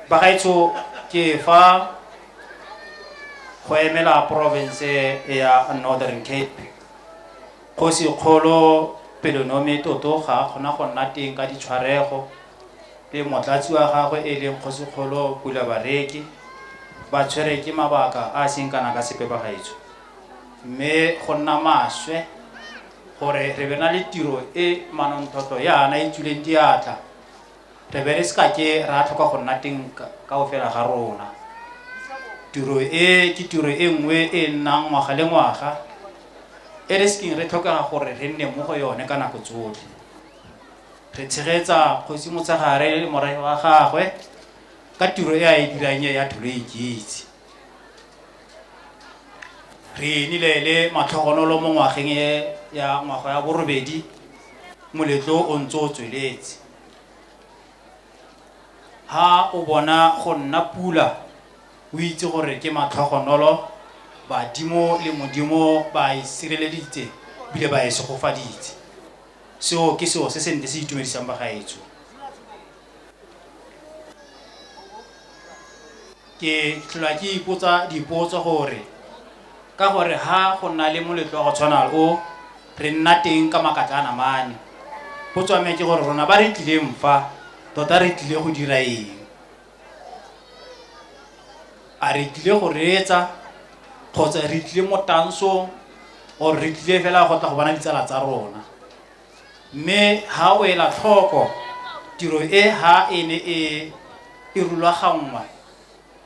bagaetsho ke fa go emela province ya northern cape kgosi kgolo pelonome toto ga kgona go nna teng ka ditshwarego le motlatsi wa gagwe e leng kgosi kgolo pula bareki ba tshwere ke mabaka a seng kana ka sepe ba gaetsho mme go nna maswe gore re be na le tiro e manontlhotlho yana e tswileng diatla re be re se ka ke ra tlhoka go nna teng ka go fela ga rona tiro e ke tiro e nngwe e nnang ngwaga le ngwaga e re sekeng re tlhokega gore re nne mo go yone ka nako tsotlhe re tshegetsa kgosi motshegare le morae wa gagwe ka tiro e a e dirang e ya tholo e ikitse re enile le matlhogonolo mo ngwageng e ya ngwaga ya borobedi moletlo o ntse o tsweletse ha o bona go nna pula o itse gore ke matlhogonolo badimo le modimo ba e sireleditse bile ba e segofaditse seo ke seo se se nte se itumedisang bagaetsho Ke tlhola ke ipotsa dipotso gore ka gore ha go nna le moletlo wa go tshwana o re nna teng ka makatla a namane go tswame ke gore rona ba re tlileng fa tota re tlile go dira eng a re tlile go reetsa kgotsa re tlile mo tansong or re tlile fela go tla go bona ditsala tsa rona Mme ha o ela tlhoko, tiro e ha e ne e e rulaganngwa,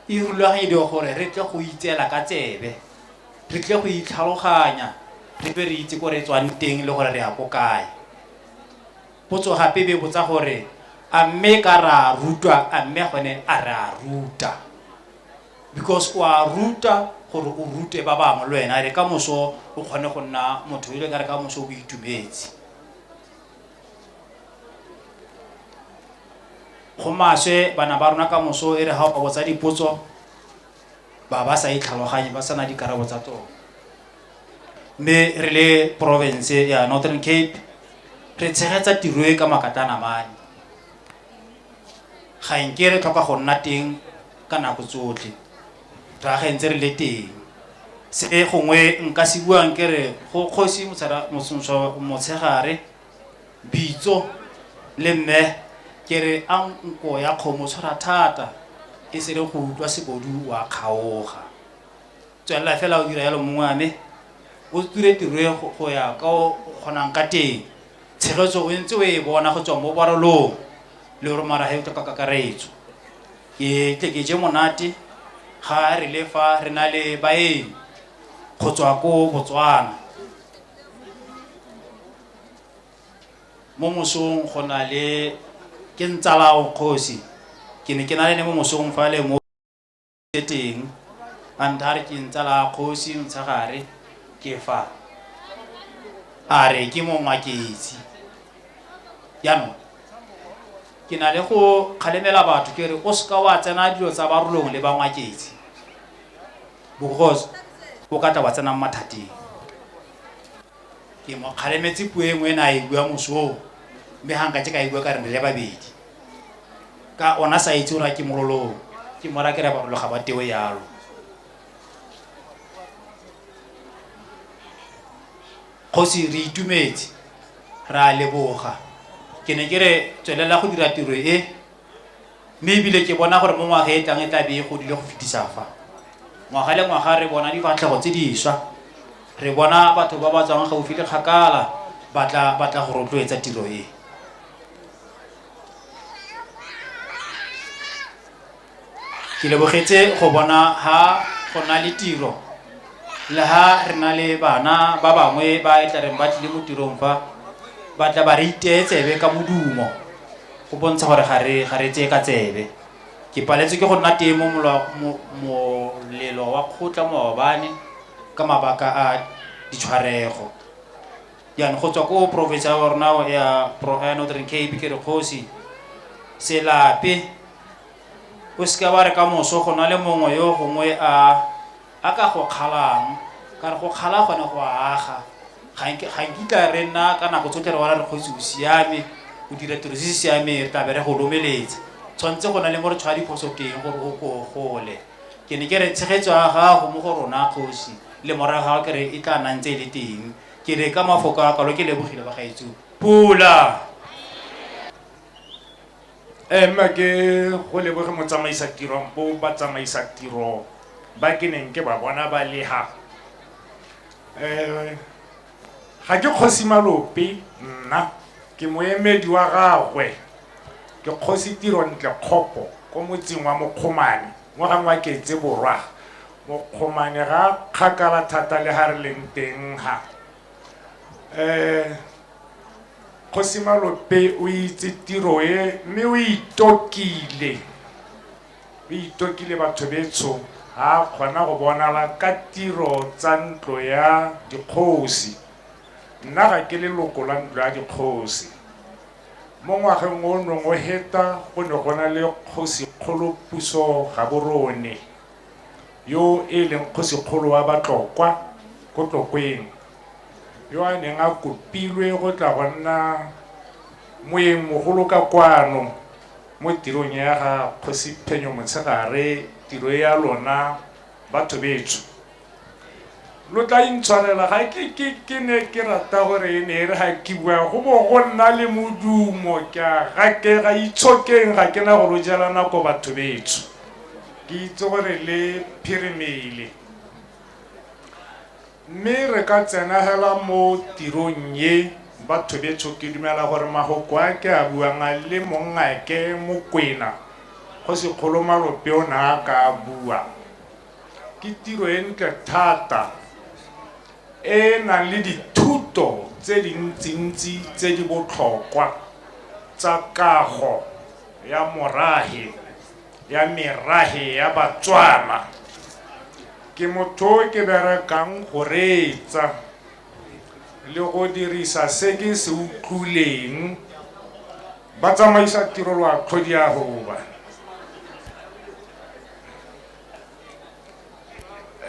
e rulaganyediwa gore re tle go itseela ka tsebe, re tle go itlhaloganya, re be re itse ko re tswang teng le gore re ya ko kae. Potso gape be botsa gore a mme ka ra rutwa a mme gone a re a ruta. because o a ruta gore o rute ba bangwe le wena re ka moso o kgone go nna motho ile ka re ka moso o itumetse go maswe bana ba rona ka moso e re ga o botsa dipotso ba ba sa itlhaloganye ba sana dikarabo tsa tsone mme re le province ya northern cape re tshegetsa tiro e ka makatanamane ga nke re tlhoka go nna teng ka nako tsotlhe re agentse re le teng se gongwe nka se buang ke re go kgosi motshegare bitso le mme ke re a nko ya kgomo tshwara thata e se re go utlwa sebodu wa kgaoga tswelela fela o dira yalo mongwe wa me o tsure tiro e go- go ya ka o o kgonang ka teng tshegetso o ntse o e bona go tswa mo barolong le gore mara he o tla ka kakaretso ke tle ke je monate ga re le fa re na le baeng go tswa ko botswana mo mosong go na le ke ntsalao kgosi ke ne ke na le ne mo mosong fa le mo se teng a nthare ke ntsa la kgosi ntshagare ke fa a re ke mongwa ketsi jaanong ke na le go kgalemela batho ke re o seka wa tsena dilo tsa barolong le bangwaketsi because o ka tla wa tsenang mathateng ke mo kgalemetse puo e nngwe e ne a e bua mosong mme ga nka ke ka e bua ka re re le babedi ka ona sa itse gore a ke mololong ke mora ke re bagolo ga ba tewe yalo kgosi re itumetse re a leboga ke ne ke re tswelela go dira tiro e mme ebile ke bona gore mo ngwaga e tlang e tla be e godile go fetisa fa ngwaga le ngwaga re bona difatlhego tse diswa re bona batho ba ba tswang gaufi le kgakala batla batla go rotloetsa tiro e ke lebogetse go bona ha go na le tiro le ha re na le bana ba bangwe ba e tla reng ba tlile mo tirong fa ba tla ba re iteye tsebe ka modumo go bontsha gore ga re ga re tseye ka tsebe ke paletswe ke go nna teng mo molelo wa kgotla maobane ka mabaka a ditshwarego Jaanong go tswa ko province ya rona ya ya Northern Cape ke re kgosi se lape o seke wa re ka moso go na le mongwe yo gongwe a a ka go kgalang ka re go kgala gone go aga ga nkitla re nna ka nako tsotlhe re wala re kgotsi o siame o dira tiro se se siameng re tlabe re go lomeletsa tshwanetse go na le mo re tshwaya diphoso teng gore o ko gole ke ne ke re tshegetso ya gago mo go rona kgosi le morago ga ke re e tla nang tse e le teng Ke ne ka mafoko a kalo ke lebogile ba gaetsio. Pula! Eh, mma ke go leboge motsamaisa tiro bo batsamaisa tiro ba ke neng ke ba bona ba leha eh ga ke kgosi malope nna ke moemedi wa gagwe ke kgosi tiro ntle kgopo ko motseng wa mokgomane mo gangwe wa ketse borwa Mokgomane ga kgakala thata le ga re leng teng ga um kgosi malope o itse tiro e mme o itokile o itokile batho betsho ga a kgona go bonala ka tiro tsa ntlo ya dikgosi nna ga ke leloko la ntlo ya dikgosi mo ngwageng o nong o heta go ne go na le kgosi kgolo puso ga borone yo e leng kgosikgolo wa batlokwa ko tlokweng yo a neng a kopilwe go tla go nna moeng mogolo ka kwano mo tirong ya ga kgosi phenyo motshegare tiro ya lona batho betsho lo tla intshwarela ga ke ke ke ne ke rata gore e ne e re ga ke bua go bo go nna le modumo ke a gakega itshokeng ga ke na go lo jela nako batho betsho ke itse gore le phirimele mme re ka tsenagela mo tirong ye batho betsho ke dumela gore magoko a ke a buang a le mongake mokwena go sekgolo malope o ne a ka a bua Ke tiro e ntle thata e e nang le dithuto tse dintsintsi tse di botlhokwa tsa kago ya morahe ya merahe ya Batswana. Ke motho o ke berekang go reetsa le go dirisa se ke se utlwileng ba tsamaisa tiro lwa tlhodiahuba.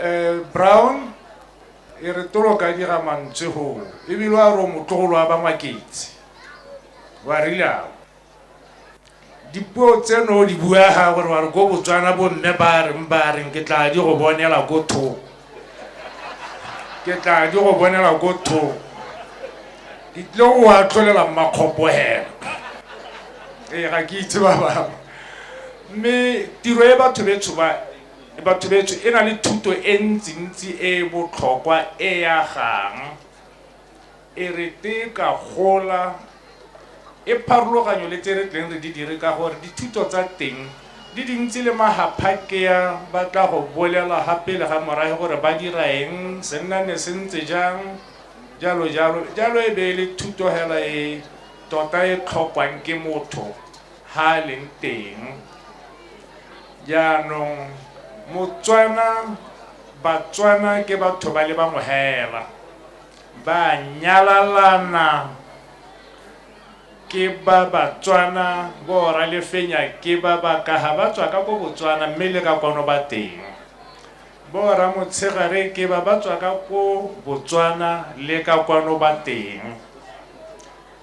um brown e re tolo ka dira mantswe goo ebile wa re o motlogolo wa bangwaketse wa rilago dipuo tseno o di buaga gore wa re ko botswana bomme ba reng ba reng ke tla di go bonela ko thoko ke tla di go bonela ko thoko ke tlile go wa tlholela mmakgopo hela ee ga ke itse ba bangwe mme tiro e batho betsho ba batho betsho e na le thuto e ntsintsi e e botlhokwa e ya gang E re tee ka gola e pharologanyo le tse re tleng re di dire ka gore dithuto tsa teng di dintsi le mahaphakea ba tla go bolela gape le ga morage gore ba dira eng senna ne se ntse jang jalo jalo jalo e be e le thuto hela e tota e tlhokwang ke motho ha a leng teng jaanong motswana batswana ke batho ba le bangwe hela Ba nyalalana ke ba Batswana, bo Ralefenya ke ba Bakaha ba tswa ka ko Botswana mme le ka kwano ba teng. Bo Ramotshegare ke ba ba tswa ka ko Botswana le ka kwano ba teng.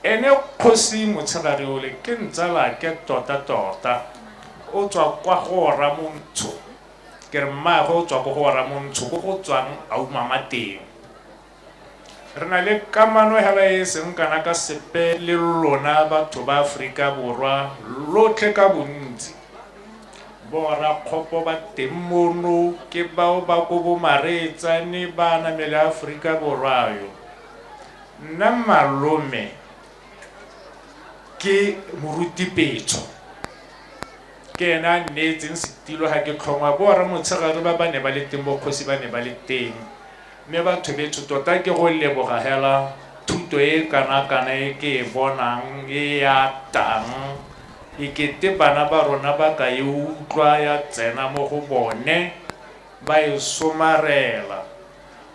Ene kgosi Motshegare ole ke ntsalake tota tota, o tswa kwa go Ramontsho. ke re mmaagwe o tswa ko go oramontsho ko go tswang a umama teng re na le kamano hela e seng kana ka sepe le lona batho ba aforika borwa lotlhe ka bontsi borakgopo ba teng mono ke bao ba ko bomareetsane ba namele aforika borwa yo nna malome ke morutipetsho Ke ene a nneetseng setilo ga ke tlhongwa, Borra Motshegare ba ba ne ba le teng bokgosi ba ne ba le teng. Mme bathobeetsho tota ke go leboga hela thuto e e kanakana e ke e bonang e e atang e kete bana ba rona ba ka e utlwa ya tsena mo go bone ba e somarela.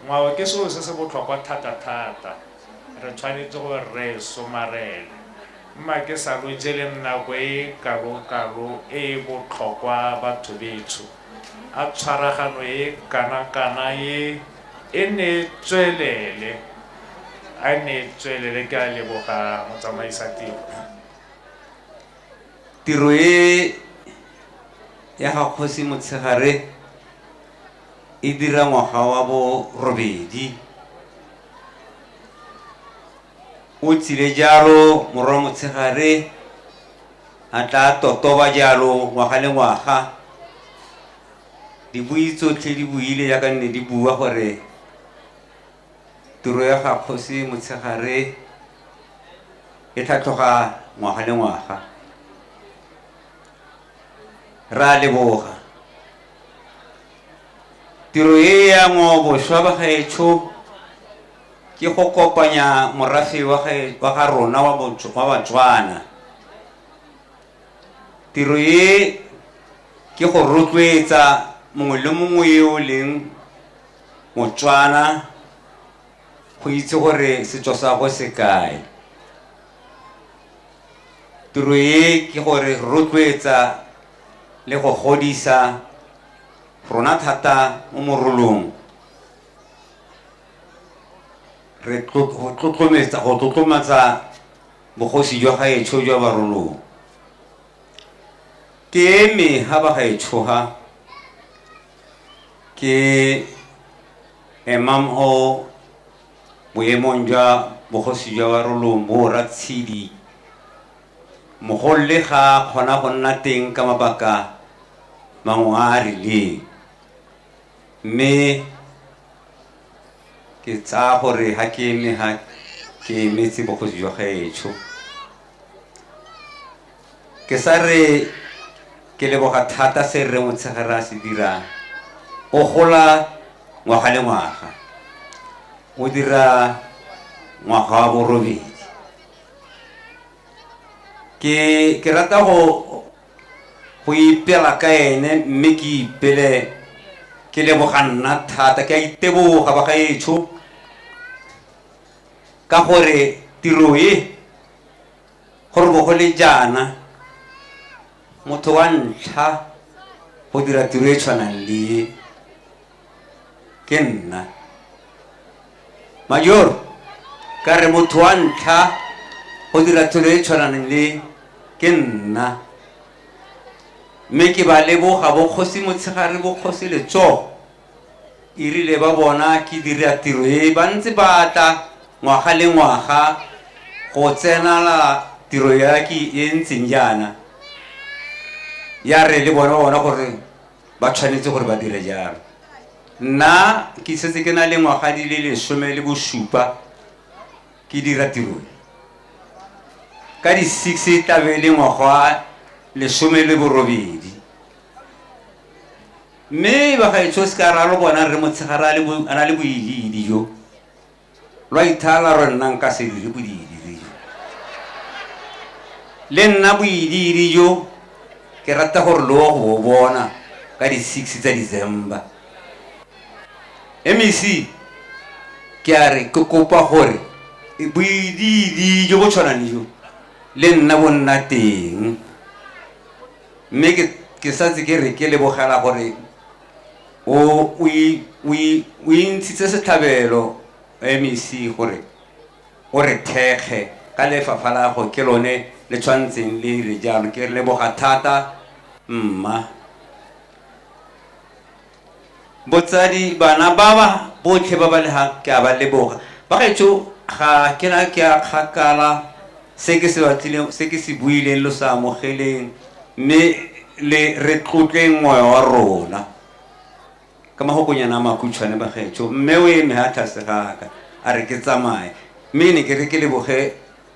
Ngwao ke selo se se botlhokwa thata-thata. Re tshwanetse gore re e somarele. Mma ke sa lo jeleng nako e kalo-kalo e e botlhokwa batho betsho. A tshwaragano e kana-kana e e ne e tswelele. A e ne e tswelele ke a leboga motsamaisa tiro. Tiro e ya ga Kgosi Motshegare e dira ngwaga wa bo robedi. O tsile jalo morwa motshegare a tla totoba jalo ngwaga le ngwaga dibui tsotlhe di buile yaka nne di bua gore tiro ya ga kgosi motshegare e tlhatlhoga ngwaga le ngwaga ra leboga tiro e ya ngwaoboswa ba gaetsho ke go kopanya morafe wa ga rona wa batswana tiro e ke go rotloetsa mongwe le mongwe yo o leng motswana go itse gore setso sa go se kae Tiro e ke gore rotloetsa le go godisa rona thata mo morolong re tlotlometsa go tlotlomatsa bogosi jwa gaetsho jwa barolong ke eme ga ba gaetshoga ke emam o Boemong jwa bogosi jwa Barolong bo o Ratshidi, Mogolole ga a kgona go nna teng ka mabaka mangwe a a rileng. Mme ke tsaya gore ga ke eme ga ke emetse bogosi jwa gaetsho. Ke sa re ke leboga thata se Rre Motshegare a se dirang. O gola ngwaga le ngwaga. O dira ngwaga wa borobedi. Ke ke rata go go ipela ka ene mme ke ipele ke leboga nna thata ke a iteboga ba gaetsho ka gore tiro e go re bo go le jaana motho wa ntlha go dira tiro e tshwanang le ke nna major ka re motho wa ntlha go dira tiro e tshwanang le ke nna mme ke ba leboga bokgosi motshegare bokgosi letsogo E rile ba bona ke dira tiro e, ba ntse ba tla ngwaga le ngwaga go tsenala tiro ya ke e ntseng jaana. Ya re le bone ba bona gore ba tshwanetse gore ba dire jalo. Nna ke setse ke na le ngwaga di le lesome le bosupa ke dira tiro e. Ka di six e tlabe e le ngwaga wa lesome le borobedi. Mme bagaetsho seka ra lo bona rre Motshegare a le bo- a na le boilidi jo lwa ithala rwe nna nka se dire boilidi jo. Le nna boilidi jo ke rata gore lo go bo bona ka di-six tsa December. MEC ke a re ke kopa gore e- boilidi jo bo tshwanang le jo le nna bo nna teng. mme ke ke setse ke re ke lebogela gore o o i- o i- o intshitse setlhabelo mec gore o re thekge ka lefapha la go ke lone le tshwantseng le re jalo ke re leboga thata mma Botsadi, bana baba botlhe ba ba le ha ke a ba leboga. Bagaetsho ga ke na ke a kgakala se ke se batlileng, se ke se buileng lo sa amogeleng, mme le re tlotleng moya wa rona. Ka magokonyana a makhutshwane bagaetsho, mme o eme ha tlase ga ka, a re ke tsamaye. Mme ne ke re ke leboge